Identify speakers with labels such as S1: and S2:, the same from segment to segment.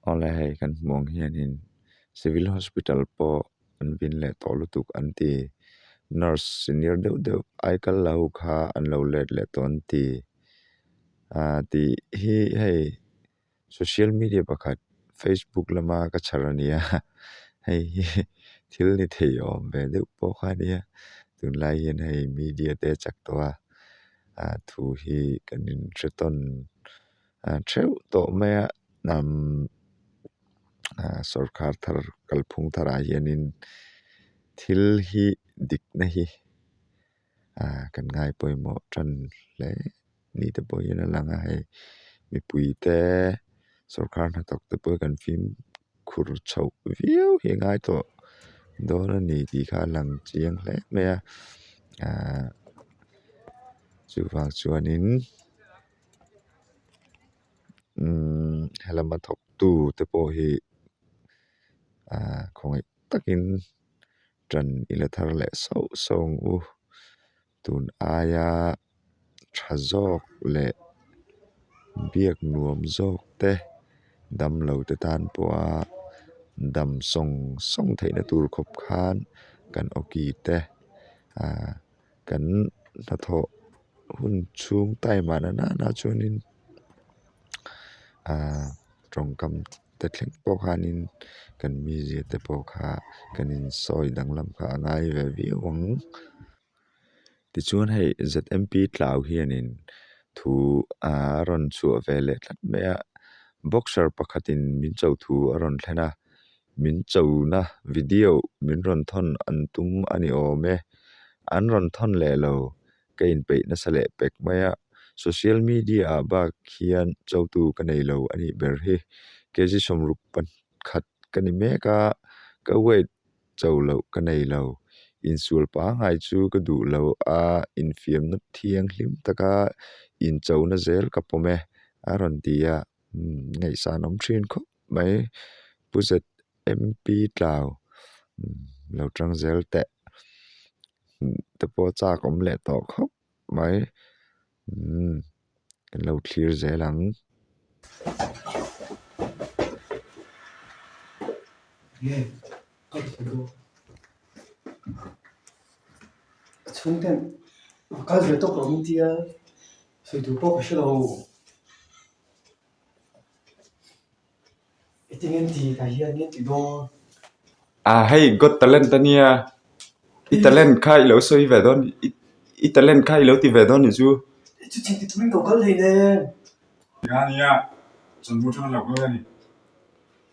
S1: Awle hei kan hmuh ang hianin civil hospital pawh an vin leh tawh lutuk an ti nurse senior deuh deuh ai kal la ho kha an lo let leh tawh an ti ahh tih hi hei-- Social media pakhat Facebook lama ka chhar a nia hei hi thil ni thei awm ve deuh pawh kha nia tunlai hian hei media te chak tawh a ah thu hi kan in hre tawn ah theuh tawh mai a nam ah sorkar thar kalphung tharah hianin thil hi dikna hi-- ah kan ngai pawimawh tan hle ni te pawh hian a lang a hei mipui te sorkar hnathawk te pawh hi kan fim khur chho viau hi a ngai tawh dawn a ni tih kha a lang chiang hle mai a ah chuvang chuanin umm he lama thawktu te pawh hi ah khawngaih takin-- Tan i la thar leh sauh sauh ang u, tun aia tha zawk leh biak nuam zawk te damlo te tan pawha dam sawng sawng theihna tur khawp khan kan awki te ahh-- Kan hnathawh hun chhung time ah nana nana chuanin aaa tawngkam te thleng pawh khanin kan mize te pawh kha kan in sawi danglam kha a ngai ve viau ang tichuan hei zmt tlau hianin thu aa a rawn chhuah ve leh tlat mai a boxer pakhatin min chauh thu a rawn thlen a. min chona video min rawn thawn an tum a ni awm e an rawn thawn leh lo ka in peih nasa leh pek mai a social media ah bak hian cho tu ka nei lo a nih ber hi K G sawmruk pakhat ka ni mek a ka wait cho loh ka nei lo insual pangngai chu ka duh lo a infiam na thiang hlim tak a inchona zel ka pawm e a rawn ti a umm ngaihsan awm thin khawp. mai pu zet MP tlau lo tang zel teh te pawh chak awm leh tawh khawp mai umm kan lo thlir zel ang. Aaa hei got talent a nia i talent kha i lo sawi ve dawn i talent kha i lo ti ve dawn ni chu ania chawlhbuk tang
S2: lo
S3: ka ni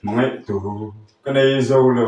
S3: hmangaih tur ka nei zo lo.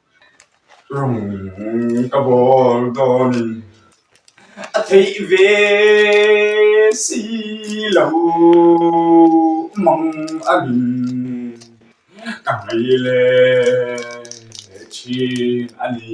S3: Rawng ka bawr dawnin a theih ve si lo mang angin ka ngaih leh thin a ni.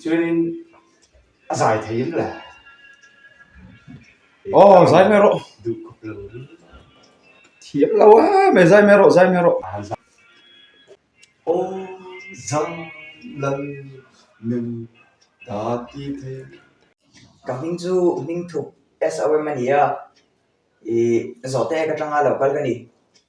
S4: Chuanin a zai thei em le.
S3: Oh, zai mai rawh. Duh khawp lo ri. Thiam lo a, me zai mai rawh, zai mai rawh. A zai.
S2: Oh, zai lal nu ta ti thei. Ka
S5: hming chu Hmingthup SOM a ni a. Ih, zawhte ka tanga lo kal ka ni.